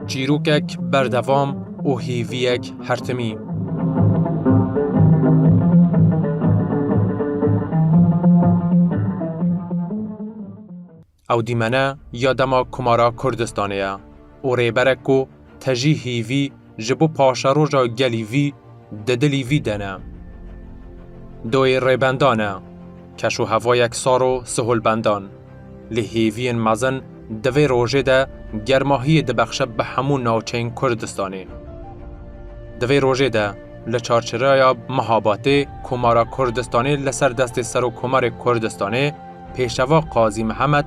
Çîrokek berdevam û hêviyek hertimî. Ew dîmene ya dema Komara Kurdistanê ye û rêberek ku te jî hîvî ji bo paşeroja gelî vî di dilî vî de ne. Doyê rêbendan e, keşûhevayek sar û siholbendan, lê hêviyên mezin di vê rojê de germahiyê dibexşe bi hemû navçeyên Kurdistanê. Di vê rojê de li Çarçiraya Mihabatê Komara Kurdistanê li ser destê Serokkomarê Kurdistanê Pêşeva Qazî Mihemed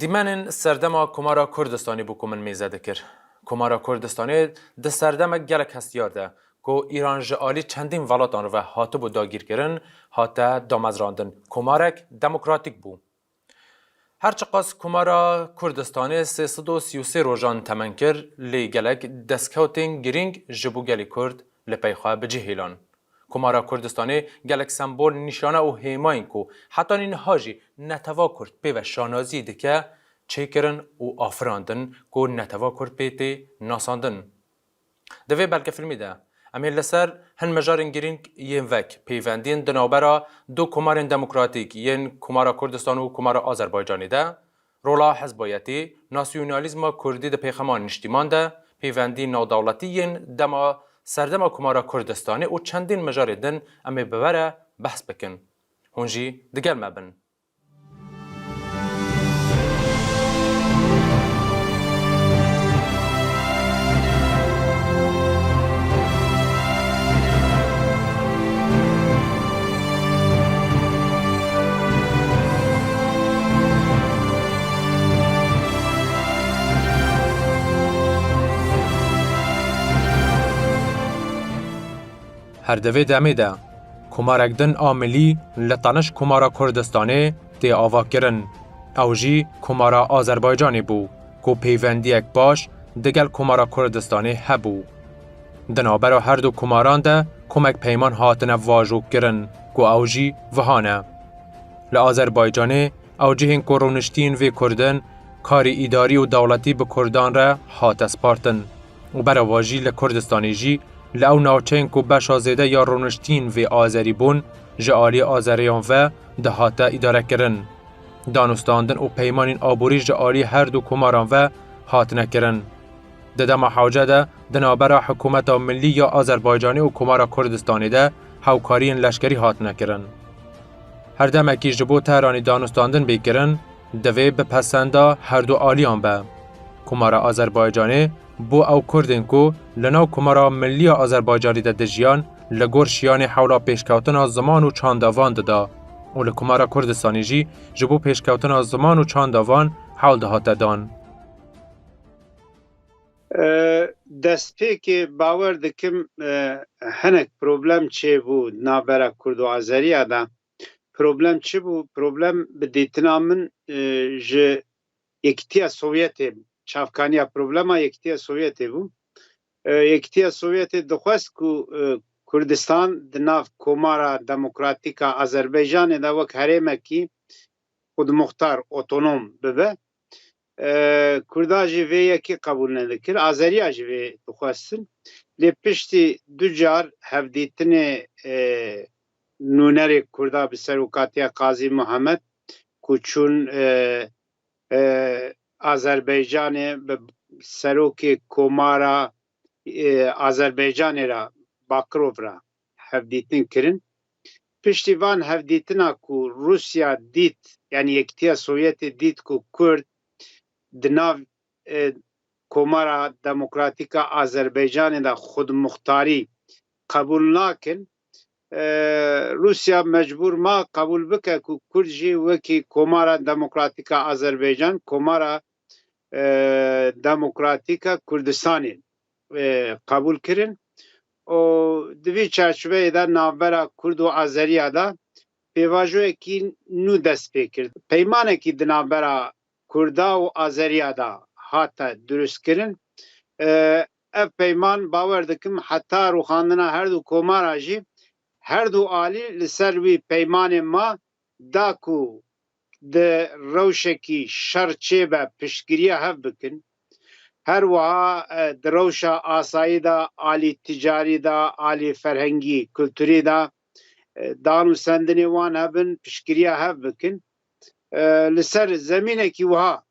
Dîmenên serdema Komara Kurdistanê bû ku min mêze dikir. Komara Kurdistanê di serdemek gelek hestiyar de ku Îran ji alî çendîn velatan re ve hatibû dagîrkirin, hate damezrandin. Komarek demokratîk bû. Her çiqas Komara Kurdistanê sê sed û sî û sê rojan temen kir, lê gelek destkewtên girîng ji bo gelê Kurd li pey xwe bi cihê lan. Komara Kurdistanê gelek sembol, nîşane û hêmayên ku heta nîniha jî netewha kurd pê ve şanazî dike çêkirin û afirandin ku netewha kurd pê tê nasandin. Di vê belgefîlmê de em ê li ser hin mijarên girîng yên vek pêvendiyên di navbera du komarên demokratîk yên Komara Kurdistan û Komara Azerbaycanê de Rola hezboyetî, nasyonalîzma kurdî di pêxema niştîman de, pêvendî navdewletî yên dema Serdema Komara Kurdistanê û çendîn mijarê din em ê bi we re behs bikin. Hûn jî digel me bin. Her di vê demê de komarek din a milî li qeniş Komara Kurdistanê tê avakirin. Ew jî Komara Azerbaycanê bû ku pêwendiyek baş digel Komara Kurdistanê hebû. Di navbera her du komaran de komek peyman hatine vajokirin ku ew jî viha ne. Li Azerbaycanê ew cihên ku rûniştiyên vê Kurd in karî îdarî û dewletî bi Kurdan re hate spartin û bereva jî li Kurdistanê jî li ew navçeyên ku beşa zêde ya rûniştiyên vê Azerî bûn ji aliyê Azereyan ve dihate îdarekirin. Danûstandin û peymanên aborî ji aliyê her du komaran ve hatine kirin. Di dema hewce de di navbera Hikûmeta Millî ya Azerbaycanê û Komara Kurdistanê de hewkariyên leşkerî hatine kirin. Her demekî ji bo Tehranê danûstandin bê kirin, divê bi pesenda her du aliyan be. Komara Azerbaycanê bo ew Kurdên ku li nav Komara Millî ya Azerbaycanê de dijiyan li gor şiyanê hewla pêşkewtina ziman û çanda van dida û li Komara Kurdistanê jî ji bo pêşkewtina ziman û çanda van hewl dihate dan. Destpêkê bawer dikim hinek problem çêbû di navbera kurd û azeriya de. Problem çi bû? Problem bi dîtina min ji Yekîtiya Sovyetê bû. Çavkaniya problema Yekîtiya Sovyetê bû. Yekîtiya Sovyetê dixwest ku Kurdistan di nav Komara Demokratîk a Azerbaycanê de wek herêmekî xwedmuxtar, otonom, bibe. Kurda jî vê yekê qebûl nedikir, Azeriya jî vê dixwestin. Lê piştî du car hevdîtinê nûnerê Kurda bi serokatiya Qazî Muhemed ku çûn Azerbaycanê bi serokê Komara Azerbaycanê re Bakirov re. hevdîtin kirin. Piştî van hevdîtina ku Rûsya dît yanî Yekîtiya Sovyetê dît ku Kurd di nav Komara Demokratîk a Azerbaycanê de xwedimûxtarî qebûl nakin, Rûsya mecbûr ma qebûl bike ku Kurd jî wekî Komara Demokratîk a Azerbaycan, Komara Demokratîk a Kurdistanê qebûl kirin û di vî çarçoveyê de navbera Kurd û Azeriya de pêvajoyekî nû dest pê kir. Peymanekî di navbera Kurda û Azeriya de hate durustkirin. Ev peyman bawer dikim heta rûxandina her du komara jî her du alî li ser wî peymanê ma da ku di rewşekî şer çêbe piştgiriya hev bikin, her wiha di rewşa asayî de, alî ticarî de, alî ferhengî, kulturî de dan û sendinê wan hebin, piştgiriya hev bikin. Li ser zemînekî wiha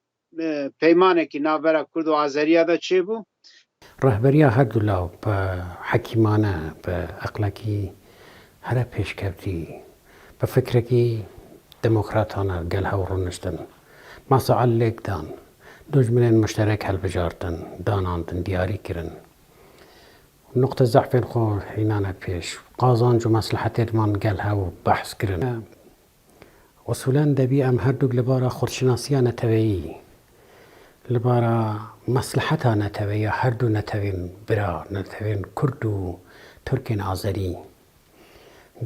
peymanekî navbera kurd û azeriya de çêbû. Rehberiya her du law bi hekîmane, bi eqlekî here pêşkevtî, bi fikrekî demokratane gel hewl rûniştin. Masa Al lêk dan. Dojminên muşterek hilbijartin, danandin, diyarî kirin. Nuqte zehfên xwe hînane pêş. Qazanc û meslehetêdman gel hewl behs kirin. Usûlen debî em herdûk li bara xurtşinasiya neteweyî, li bara mesleheta neteweyî ya herdû netewên bira, netewên kurd û tirkên azerî,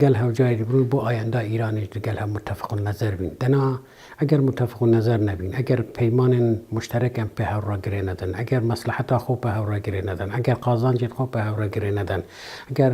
gel hewcayê dibûn bo ayenda Îranê ji gel hev mutefîqûnnezer bîn. Dina eger mutefîqûnnezer nebîn, eger peymanên muşterek em pê hev re girê nedin, eger mesleheta xwe pê hev re girê nedin, eger qazancên xwe pê hev re girê nedin, eger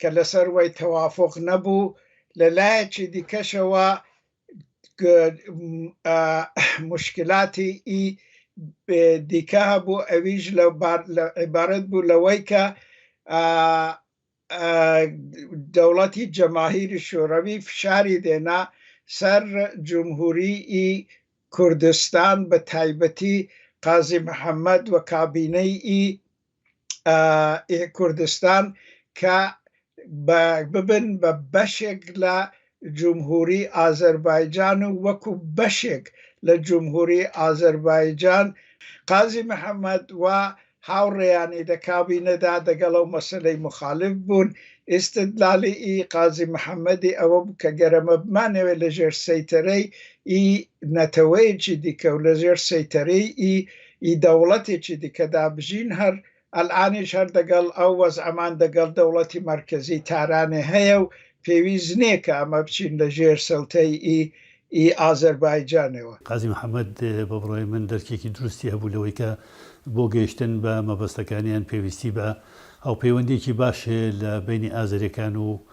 ke li ser wê tewafuq nebû, li layekî dîke jî wa ku muşkîlatî î dîke hebû ewî jî îbaret bû li wê ke dewletî cemahîrî şorewî fişarî dêne ser Cumhurî î Kurdistan bi taybetî Qazî Mihemed û kabîneyî î. ê Kurdistan ke bibin be beşek le Cumhurî Azerbaycan û wekû beşek le Cumhurî Azerbaycan Qazî Mihemed wa hawreyanî de kabîne de degel ew meseleyê muxalif bûn. Îstidlalê î Qazî Mihemedî ewe bû ke gere me bi manê wê li jêr seytereyê î neteweyekî dîke û li jêr seytereyê î Î dewletê çi dike da bijîn her elanî ji her degel ew wez'eman degel dewletî merkezî Tehranê heye û pêwîst nê ke eme biçîn li jêr siltey î î Azerbaycanê we. Qazî Mihemed, Bi birayê min derkekî dirustî hebû li wê ke bo gehiştin bi mebestekaniyan pêwîstî be hawpêwendiyekî baş li beynî Azerêkan û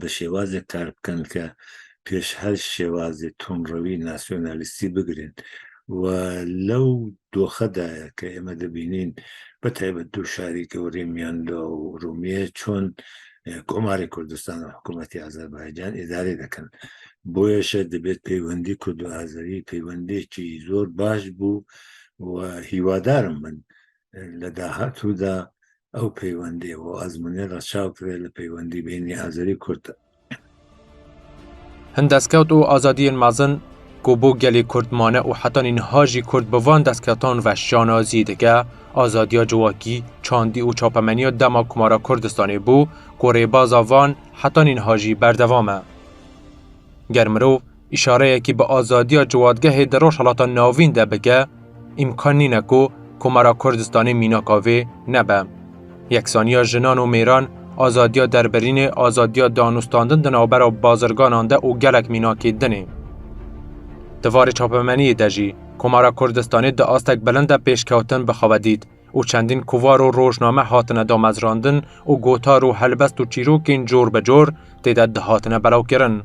bi şêwazê kar bikin ke pêş her şêwazê tundrewî nasyonalîstî bigirên û lew doxe de ye ke ême dibînîn bi taybet du şarî gewrê Miyanlo û Urûmiyê çon Komarê Kurdistan û hikûmetê Azerbaycan îdarê dikin. Boyeş e dibêt peywendî kurdo-azerî peywendêkî zor baş bû û hîwadar im min li dahatû de ew peywendî û azmûnê re çaw kive li peywendî bênî Azerî Kurd e. Hin destkeut û azadiyên mezin ku bo gelê Kurd mane û heta nînha jî Kurd bi van destketan ve şanazî dike, azadiya civakî, çandî û çapemeniya dema Komara Kurdistanê bû ku rêbaza van heta nînha jî berdewam e. Ger mirov Îşareyekî bi azadiya ciwatgehê di Rojhilata Navîn de bike, îmkan nîne ku Komara Kurdistanê mînaka vê nebe. Yeksaniya jinan û mêran, azadiya derbirînê, azadiya danûstandin di navbera bazirganan de û gelek mînakê din ê. Di varê çapemeniyê de jî Komara Kurdistanê di astek bilind de pêşkewtin bi xwe ve dît û çendîn kovar û rojname hatine damezrandin û gotar û helbest û çîrokên cor bi cor tê de dihatine belawkirin.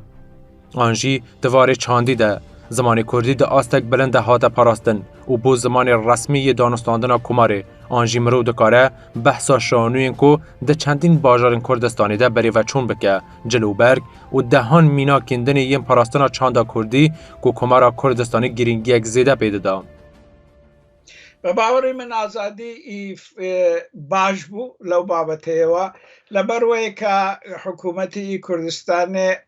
An jî di varê çandî de zimanê kurdî di astek bilind de hate parastin û bû zimanê resmî yê danûstandina Komarê. An jî mirov dikare behsa şanûyên ku di çendîn bajarên Kurdistanê de berê veçûn bike, cil û berg û dehan mînakên din ê yên parastina çanda kurdî ku Komara Kurdistanê girîngiyek zêde pê dida. Bi bawerê min azadî baş bû lew babeteyê we, li ber wê ka hikûmetê Kurdistanê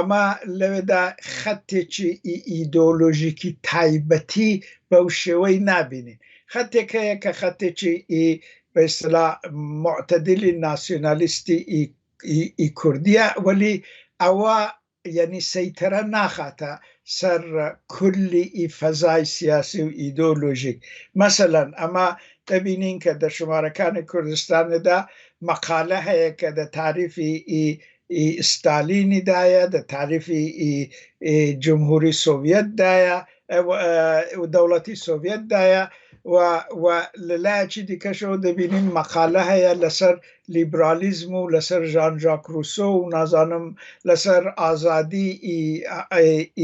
Ema lewê de xetê çi ê îdeolojîkî taybetî bew şêweyî nabînîn. Xetêk heye ke xetê çi ê bi îstila mutedilî nasyonalîstî ê kurdî ye welî ewa yanî seytere naxate ser kullî ê fezayê siyasî û îdeolojîk. Meselen ema dibînîn ke di şimarekanê Kurdistanê de meqale heye ke di tarîfî ê î Stalînî de ye, di tarîfî î Cumhurî Sovyet de ye û Dewletî Sovyet de ye û we li lehekî dîke ji we dibînîn meqale heye li ser lîbralîzm û li ser Jean Jacques Rousseau û nazanim li ser azadî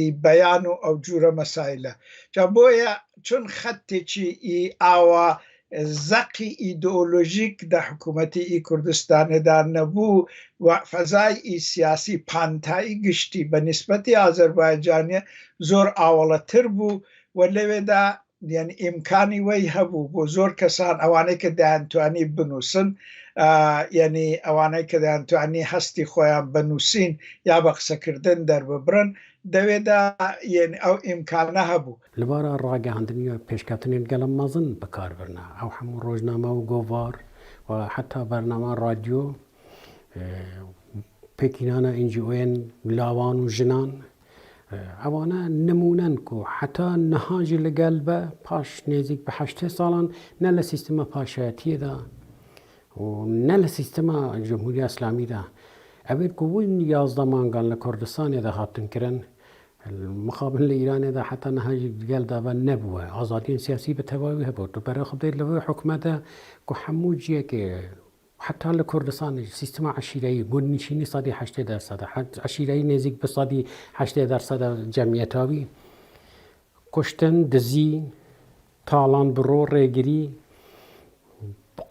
î beyan û ew cûre mesaîle. Ca boye çun xet tê çî î awa Zeqî îdeolojîk di hikûmetê î Kurdistanê de nebû û fezayê î siyasî, pantayî giştî be nisbetê Azerbaycanê zor awaletir bû û lê wê de yanî îmkanî wey hebû bo zor kesan ewanê ke dayên tuanî binûsin yanî ewanê ke dayên tuanî hestî xwe yan be nûsîn ya be qisekirdin derbibirin de wê de yanî ew îmkane hebû. Li bara ragihandinê ya pêşketinên gelo mezin bi kar birine. Ew hemû rojname û govar û heta bernama radyo û pêkînana NGO'yên lawan û jinan ewane nimûne in ku heta niha jî li gel be paş nêzîk bi heştê salan ne li sîstema paşayetiyê de û ne li sîstema Cumhuriya Îslamî de ev ên ku hûn yazdeh mangan li Kurdistanê de hatin kirin Li mixabin li Îranê de heta niha jî gel dava nebûye. Azadiyên siyasî bi tevayî wî hebû. Tu pere xwe bidê li vê hukme de ku hemû ciyekê heta li Kurdistanê jî sîstema eşîreyî ku nişînî sedî heştê dersed e. Eşîreyî nêzîk bi sedî heştê dersed e cemiyeta wî. Kuştin, dizî, talan bi ro, rêgirî,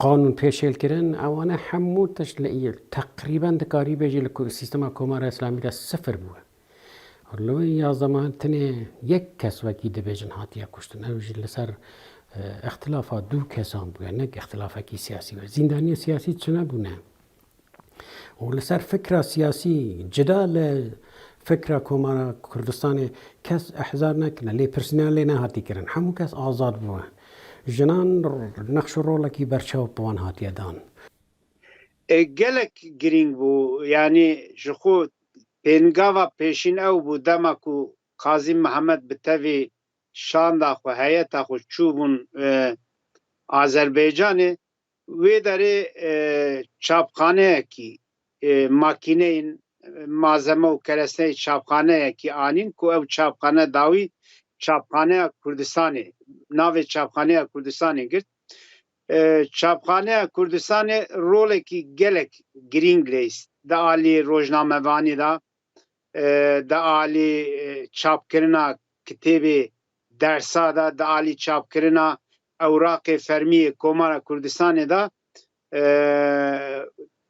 qanûn pêşêlkirin ewane hemû tişt li teqrîben dikarî bêjî li sîstema Komara Îslamî de sifir bûye. Li wê ya zeman tenê yek kes wekî dibêjin hatiye kuştin. Ew jî li ser îxtilafa du kesan bûye ne îxtilafekî siyasî be. Zîndaniyên siyasî çine bûne û li ser fikra siyasî cida li fikra Komara Kurdistanê kes ihzar nekirine. Lêpirsîna lê nehatî kirin. Hemû kes azad bûye. Jinan nexş û rolekî berçaw bi wan hatiye dan. Gelek girîng bû yanî ji xwe Pêngava pêşîn ew bû dema ku Kazîm Mihemed bi tevî şanda xwe, heyeta xwe çûbûn Azerbaycanê, wê derê çapxaneyekî, makîneyên, malzeme û keresneyê çapxaneyekî anîn ku ew çapxane dawî Çapxaneya Kurdistanê, navê Çapxaneya Kurdistanê girt. Çapxaneya Kurdistanê rolekî gelek girîng leyst di alî rojnamevanî de, di alî çapkirina kitêbê dersa de, di alî çapkirina ewraqê fermî yê Komara Kurdistanê de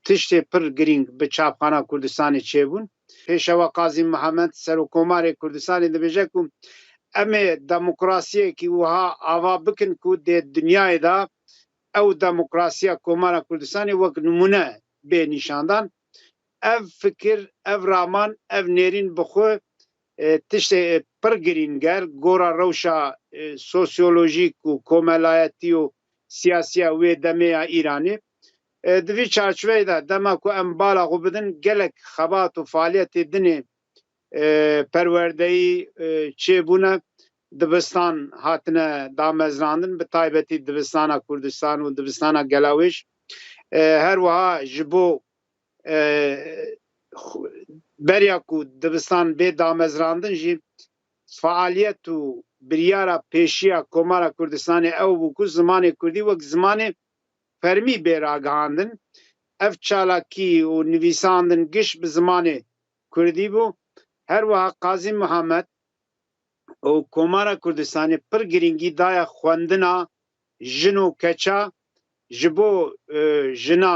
Tiştê pir girîng bi Çapxana Kurdistanê çêbûn. Pêşewa Kazîm Mihemed, Serokkomarê Kurdistanê dibêje ku em ê demokrasiyekî wiha ava bikin ku dê dinyayê de ew demokrasiya Komara Kurdistanê wek nimûne bê nîşandan. Ev fikir, ev raman, ev nêrîn bi xwe tiştê pir girîn ger gora rewşa sosyolojîk û komelayetî û siyasî ya wê demê ya Îranê. Di vî çarçiveyê de dema ku em bala xwe bidin gelek xebat û faaliyetê dinê perwerdeyî çêbûne. Dibistan hatine damezinandin bi taybetî Dibistana Kurdistan û Dibistana Gelawêj. Her wiha ji bo beriya ku dibistan bê damezinandin jî faaliyet û biryara pêşiya Komara Kurdistanê ew bû ku zimanê Kurdî wek zimanê fermî bê ragihandin. Ev çalakî û nivîsandin giş bi zimanê kurdî bû. Her wiha Qazî Mihemed û Komara Kurdistanê pir girîngî daye xwendina jin û keça ji bo jina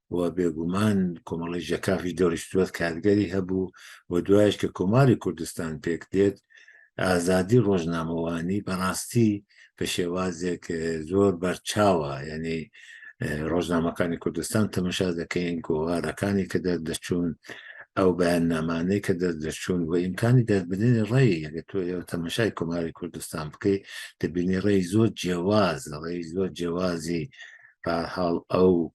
و bêguman Komala Jeka jî dorê stûwet kargerî hebû û duwayeş ke Komarê Kurdistan pêk têt, azadî rojnamewanî bi rastî bi şêwazek zor ber çawa yanî rojnamekanê Kurdistan temeşa dekeyên ku rarekanê ke dest diçûn ew beyannamanê ke dest diçûn wê îmkanî dest bidêne reyê. Ege tu yew temeşayê Komarê Kurdistan bikey dibînî reyî zor cêwaz, reyî zor cêwazî. Bi her hal ew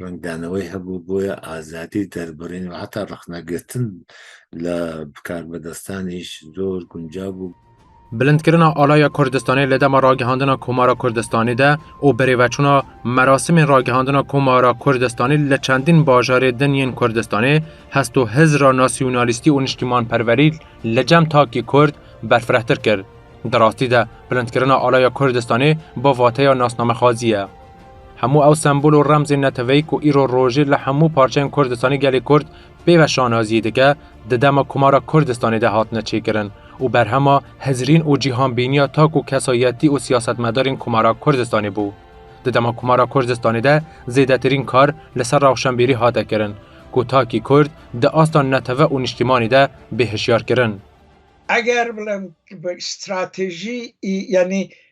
rengdanewê hebû boya azadî derbirîn û heta rexnegirtin li bikarbedestan îş zor guncav bû. Bilindkirina alaya Kurdistanê li dema ragihandina Komara Kurdistanê de û birêveçûna merasimên ragihandina Komara Kurdistanê li çendîn bajarê din yên Kurdistanê hest û hizra nasyonalîstî û niştîmanperwerî li cem takî Kurd berfirehtir kir. Di rastî de bilindkirina alaya Kurdistanê bi vateya nasnamexwazî ye. Hemû ew sembol û remzên neteweyî ku îro rojê li hemû parçeyên Kurdistanê gelê Kurd pê ve şanaziyê dike, di dema Komara Kurdistanê de hatine çêkirin û berhema hizrîn û cîhanbîniya tak û kesayetî û siyasetmedarên Komara Kurdistanê bû. Di dema Komara Kurdistanê de zêdetirîn kar li ser rewşenbîrî hate kirin ku takî Kurd di asta netewe û niştîmanî de bê hişyar kirin. Eger bilim stratejî yanî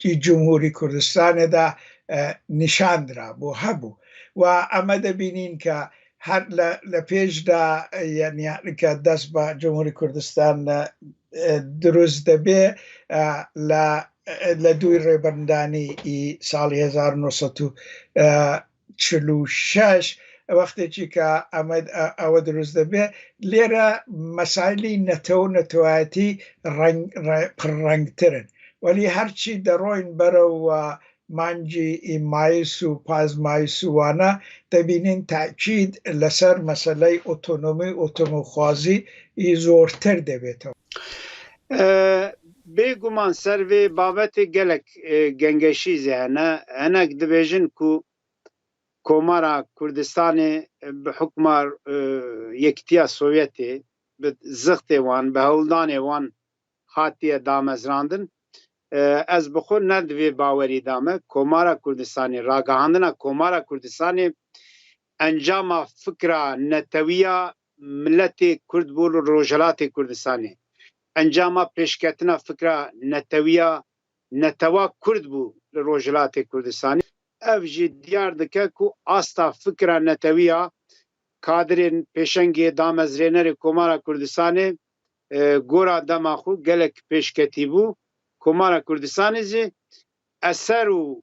Di Cumhurî Kurdistanê de nîşandra bû hebû wa eme de bînîn ke her le le pêş de yanî ke dest be Cumhurî Kurdistan dirûst debê le le dûy rêbirndanî î salî hezar u no sed u çil û şeş wextêkî ka Amed ewe dirûst dibe lê re mesaîlî netew û netewayetî reng pir rengtir in. Welî her çî deroyîn berew wa mancî ê mayis û paz mayis û wana debînîn tekîd li ser meseleyê otonomî û otomîxwazî yî zortir debêto. Bê guman ser vê babetê gelek gengeşî zî hene. Hinek dibêjin ku Komara Kurdistanê bi hukma Yekitiya Sovyetê, bi zixtê wan, bi hewldanê wan hatiye damezrandin. Ez bi xwe ne di vê bawerî de me. Komara Kurdistanê, ragihandina Komara Kurdistanê encama fikra netewî ya Miletê Kurd bû li Rojhilatê Kurdistanê encama pêşketina fikra netewiya netewa Kurd bû li Rojhilatê Kurdistanê. Ev jî diyar dike ku asta fikra netewiya kadirên pêşengê damezrênerê Komara Kurdistanê gora dema xwe gelek pêşketî bû. Komara Kurdistanê jî eser û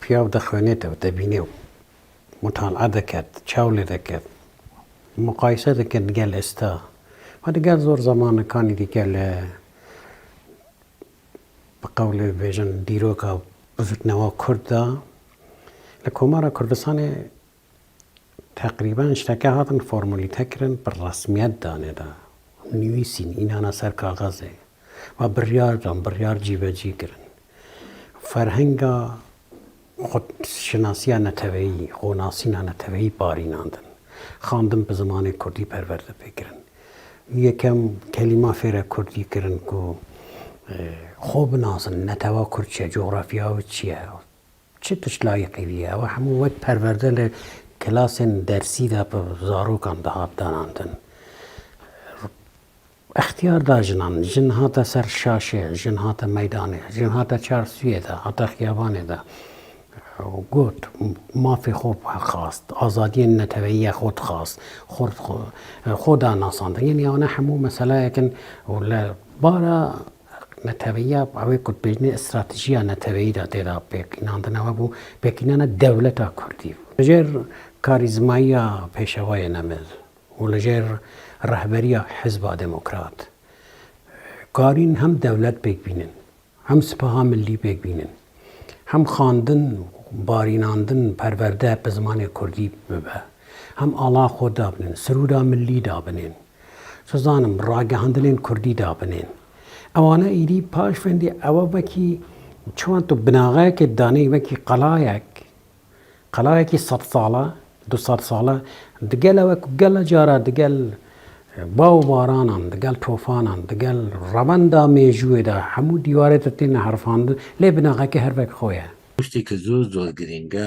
Piyav dixwêne tev dibîne û mutala diket, çaw lê diket, muqayese dike digel esta. Xwe digel zor zemanekanî digel bi qewlê bibêjin dîroka bizirgnewa kurd de li Komara Kurdistanê Teqrîben şteke hatin formulîte kirin bi resmiyet dane da, nivîsîn, înana ser kaxezê ve biryar dan, biryar cîvecî kirin. Ferhenga xwedşinasiya neteweyî, xwenasîna neteweyî parînandin. Xandin bi zimanê kurdî perwerde pê kirin. Yekem kelîman fêra kurdî kirin ku xwe binasin, netewa kurd çi ye, cografya wê çi ye. Çi tişt layiqî bûye? Ew hemû wek perwerde li kilasên dersî de bi zarokan dihat danandin. Îxtiyar da jinan. Jin hate ser şaşê, jin hate meydanê, jin hate çarsûyê de, hate xiyabanê de û got, mafê xwe xwest, azadiyên neteweyiya xwe dixwest, xwe xwe da nasandin. Yanî ewne hemû meseleyek in û li bara Neteweya ew ê ku di pêşînê stratejiya neteweyî de tê da pêkînandine we bû pêkînana dewleta kurdî. Li jêr karîzmayiya Pêşewayê Nemil û li jêr rehberiya Hizba Demokrat karîn hem dewlet pêk bînin, hem sipaha milî pêk bînin, hem xandin, barînandin, perwerde bi zimanê kurdî bibe, hem ala xwe dabinin, sirûda milî dabinin. Dizanim ragihandinên kurdî dabinên. Ewana êdî paş fendê ewa wekî çiwan tu binaxeyekê danê wekî qelayek, qelayekî sed sala, du sed sala digel ewe ku gela cara digel bav û baranan, digel tofanan, digel revenda mêjûyê de hemû dîwarê de têne herifandin lê binaxeyekê her wek xwe ye. Tiştekî zor zor girîng e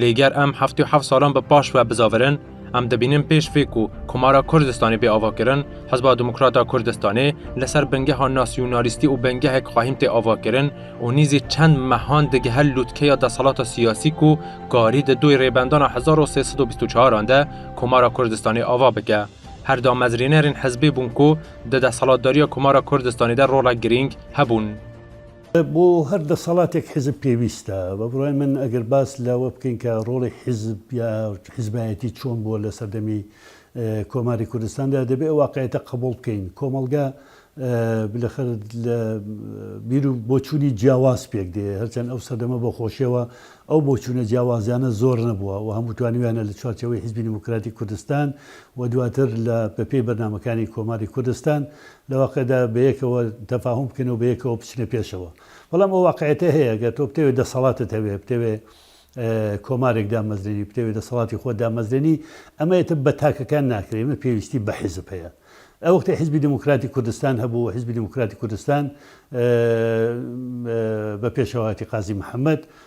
Lê ger em heftê û heft salan bi paş ve bizavirin, em dibînin pêş vê ku Komara Kurdistanê bê avakirin, Hizba Demokrata Kurdistanê li ser bingeha nasyonalîstî û bingehek xwahîn tê avakirin û nîzî çend mehan digihe lûtkeya desthilata siyasî ku karî di doy Rêbendana hezar û sê sed û bîst û çaran de Komara Kurdistanê ava bike. Her damezrênerên hizbê bûn ku di desthilatdariya Komara Kurdistanê de rolek girîng hebûn. Bo her desthilatek hizb pêwîst e. Bi birayê min eger bas li we bikin ke rolê hizb ya hizbiyetî çon bû li ser demî Komarê Kurdistan de dibê ew waqiyete qebûl bikin. Komelge bilexir li bîr û boçûnî ciyawaz pêk dê. Her çend ew serdeme bi xweşê we ew boçûne ciyawaziyane zor nebûe û hemû twanîyane li çarçeweyê Hizbî Demokratîk Kurdistan û duatir li bi pey bernamekanê Komarê Kurdistan Li waqê de bi yekê tefahum bikin û bi yekê biçine pêşewa. Belam o waqîetê heye, ger tu bi tevê desalatet hevê, bi tevê komarek damezrênî, bi tevê desalatî xwe damezrênî, em ê tu bi PKK nekirî, em ê pêwîstî bi hizb heye. Ev wextê Hizbî Demokratîk Kurdistan hebû û Hizbî Demokratîk Kurdistan bi pêşewatî Qazî Mihemed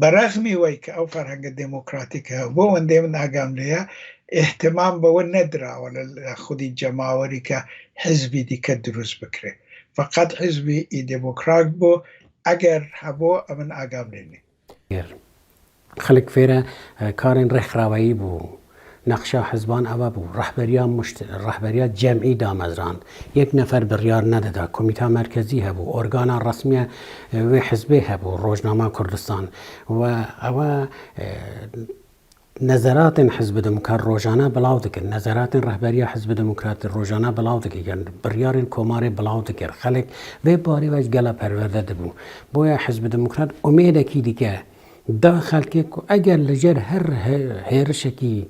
Bi rexmî wê ke ew ferhenga demokratîk e û bo wendê min agamlê ye, îhtimam bi wê nedirawe li lê xwedî cemawerî ke hizbî dîke dirûst bikirê. Feqet hizbî î demokrak bo, eger hebû em min agamlê nî. Xelk fêre karên rêxraweyî bû. Nexşa hizban eva bû, rehberiya muşt, rehberiya cem'î damezrand. Yek nefer biryar nedida, komîta merkezî hebû, organa resmî ya wê hizbê hebû, Rojnama Kurdistan. We ewa nezeratên Hizbi Demokrat rojane bilav dikir, nezeratên rehberiya Hizbi Demokratî rojane bilav dikir, biryarên komarê bilav dikir. Xelk vê barê ve ji gela perwerde dibû. Boya Hizbi Demokrat umêdekî dike. Da xelkê ku eger li cer her hêrişekî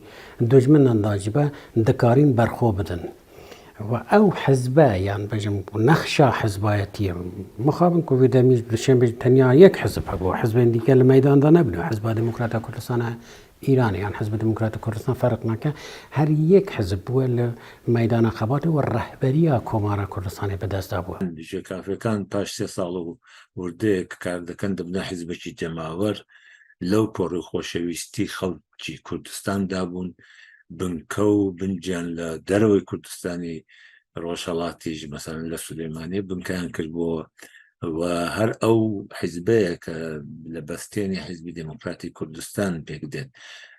dojminan da jî be dikarîn berxwe bidin û ew hizbe yan bijim ku nexşa hizbayetiyê mixabin ku vê demî ji duşenbê jî tenya yek hizb hebû hizbên dîke li meydan de nebûne Hizba Demokrata Kurdistana Îranê yan Hizbi Demokrata Kurdistan ferq nake her yek hizb bûye li meydana xebatê û rehberiya Komara Kurdistanê bi dest dabûye. Ji kafekan paş sê sal û Kurdek kar dikin dibne hizbekî cemawer, lew ku rû xoşewîstî xelkî Kurdistan dabûn, binkew binciyan li derewê Kurdistanî, Rojhelatî jî meselen li Silêmaniyê binkeyan kiribû we her ew hizbeyeke li bestênê Hizbî Demokratî Kurdistan pêk dên.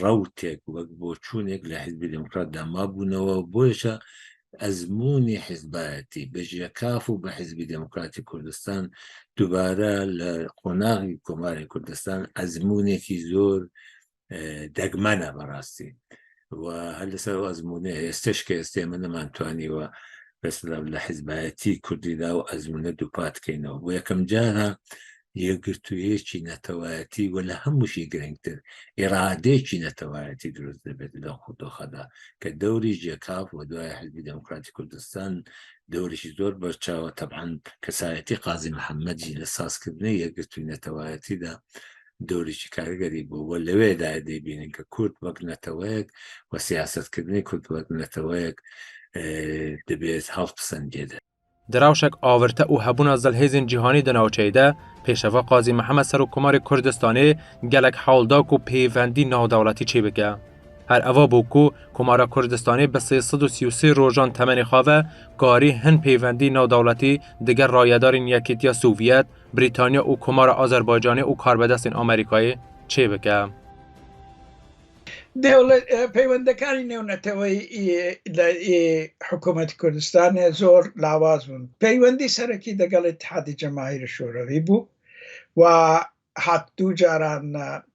rewtek wek boçûnek li Hizbê Demokrat de mabûnewe û bo yê ezmûnê hizbayetî bi JKAF û bi Hizbê Demokratê Kurdistan dubare li qonaxê Komarê Kurdistan ezmûnekî zor degmene bi rastî. و her li ser azmûnê hêstişkê ez tê min niman twanî we mesela li hizbayetî Kurdî da û ezmûne dupat kêno. Bu yekem cara yekgirtûyêkî netewayetî we li hemû jî girîngtir îradêkî netewayetî dirûst dibe di doxa da ke dewrî CKAF we duaya Hizbî Demokratî Kurdistan dewrî jî zor berçawa teban kesayetî Qazî Mihemed jî li sazkirinê yekgirtûyî netewayetî da dorê jî karigerî bû we li wê dayê dê bînin ku kurd wek neteweyek û siyasetkirinê kurd wek neteweyek dibê ez hev pisin cê de. Di rewşek awirte û hebûna zilhêzên cîhanî di navçeyê de pêşeva Qazî Mihemed Serokkomarê Kurdistanê gelek hewl da ku pêvendî navdewletî çê bike. Her eva bû ku Komara Kurdistanê bi sê sed û sî û sê rojan temenê xwe ve karî hin pêvendî navdewletî digel rayedarên Yekîtiya Sovyet, Brîtanya û Komara Azerbaycanê û karbedestên Amerîkayê çê bike. Peywendekarî nêwneteweyî ê Hikûmetê Kurdistanê zor lawaz bûn. Peywendî serekî degel Îtîhadê Cemahîrê Şorewî bû û hat dû caran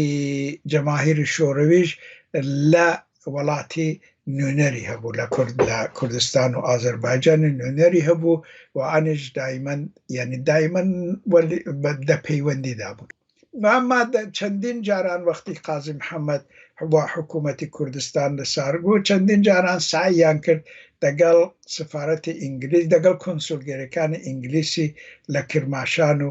ê cemahîrê şorewêj le welatê nûnerî hebû le kurd le Kurdistan û Azerbaycanê nûnerî hebû û anê ji dayîmen yanî dayîmen welî de peywendî dabûn. Ema çendîn caran wextî Qazî Mihemed wa hikûmetê Kurdistan li sar bû çendîn caran seyîyan kir degel sefaretê îngilîz degel konsulgêrêkanê îngilîsî le Kirmaşan û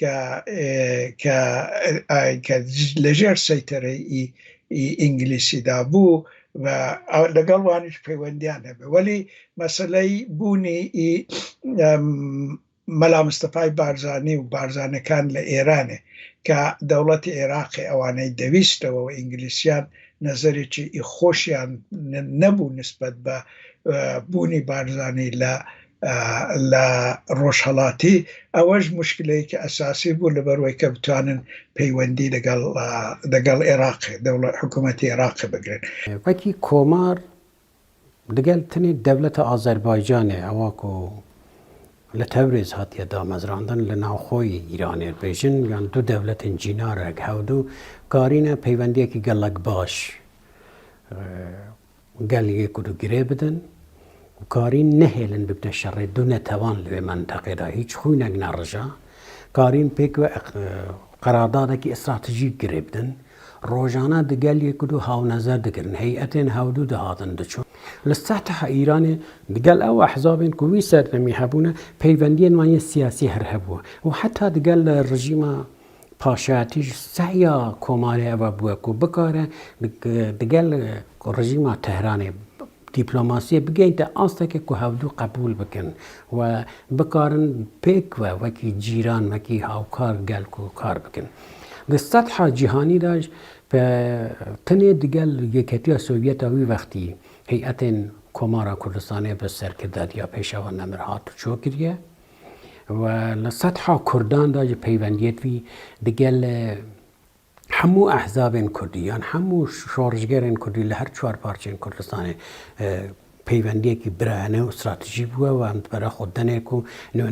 ke ke ke li jêr seytereyî îngilîsî de bû ve legal wan jî peywendiyan hebe welî meseleyî bûnî î Mela Mistefayî Barzanî û barzanekan li Êranê ke dewletê Êraqê ewaney dewîst ew û îngilîsiyan nezerê çî î xweşiyan nebû nisbet be bûnî Barzanî li Li rojhilatî ew ji muşkileyeke esasî bû li ber wê ke bitonin peywendî ligel ligel Iraqê dewle hikûmetê Iraqê bigirin. Wekî komar ligel tenê dewleta Azerbaycanê ewa ku li Tewrêz hatiye damezrandin li navxoyî Îranê bêjin yan du dewletên cînarek hewdu karîne peywendiyekî gelek baş Gel yê ku digirê bidin û karîn nehêlin bibne şerê du netewan li vê menteqê de. Hîç xwînek nerija. Karîn pêk ve qeraddadekî îstratejîk girê bidin. Rojane di gel yê ku du hawnezer dikirin. Heyetên hewdu dihatin diçûn. Li Setha Îranê digel ew ehzabên ku wî serdemî hebûne peywendiyên wan yên siyasî her hebû û heta digel rejîma Paşayatî ji sehya komarê ev a bûye ku bikare digel rejîma Tehranê dîplomasiyê bigeyînte asteke ku hevdu qebûl bikin û bikarin pêk ve wekî cîran, wekî hawkar gel ku kar bikin. Di setha cîhanî de pe tenê digel Yeketiya Sovyet a wî wextî heyetên Komara Kurdistanê bi serkirdatiya Pêşawa Nemir hat çokiriye. û li setheha kurdan de jî peywendiyet wî digel hemû ehzabên kurdî yan hemû şoreşgerên kurdî li her çar parçeyên Kurdistanê peywendiyekî birayane û stratejî bûye û em dibere xwe tenê ku li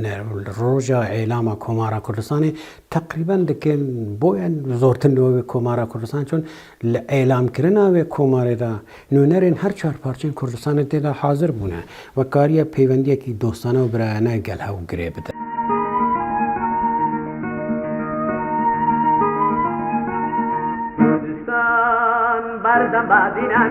roja êlama Komara Kurdistanê teqrîben dikin boyên zortir li wê Komara Kurdistanê çûn. Li elamkirina vê komarê de nûnerên her çar parçeyên Kurdistanê tê de hazir bûne ve kariye peywendiyekî dostane û birayane gel hev girê bide. Kurdistan berdem badînan.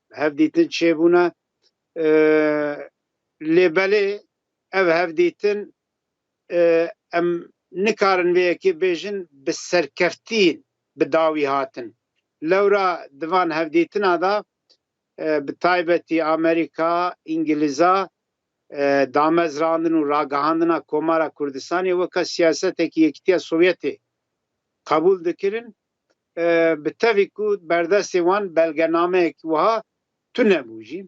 hevdîtin çêbûne lê belê ev hevdîtin em nikarin vê yekê bêjin bi serkeftî bi dawî hatin. Lewra di van hevdîtina de bi taybetî Amerîka, Îngilîza damezrandin û ragihandina Komara Kurdistanê weke siyasetekî Yekîtiya Sovyetê qebûl dikirin bi tevî ku berdestê wan belgenameyek wiha tune bû jî.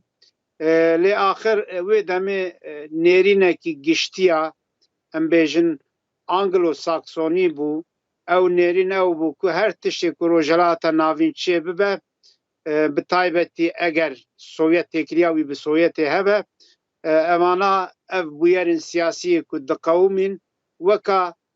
Lê axir wê demê nêrînekî giştiya em bêjin Anglo-Saksonî bû. Ew nêrîn ew bû ku her tiştê ku Rojhilata Navîn çê bibe, bi taybetî eger Sovyet têkiliya wî bi Soyetê hebe, evana ev bûyerên siyasiyê ku diqewimîn weka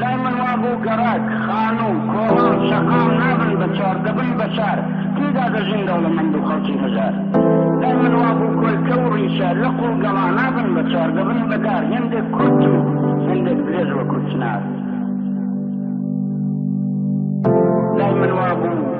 Lay min wabû gerek xanû, kolan, şeqan nebin bi çar, dibin beşer, tîda dijîn dewlemend û xelkî mijar. Lay min wabû kulke û rîşe, liq û gela nebin bi çar, dibin bi der, hindêk kurt û hindêk dirêj wekû çinar. Lay min wabû.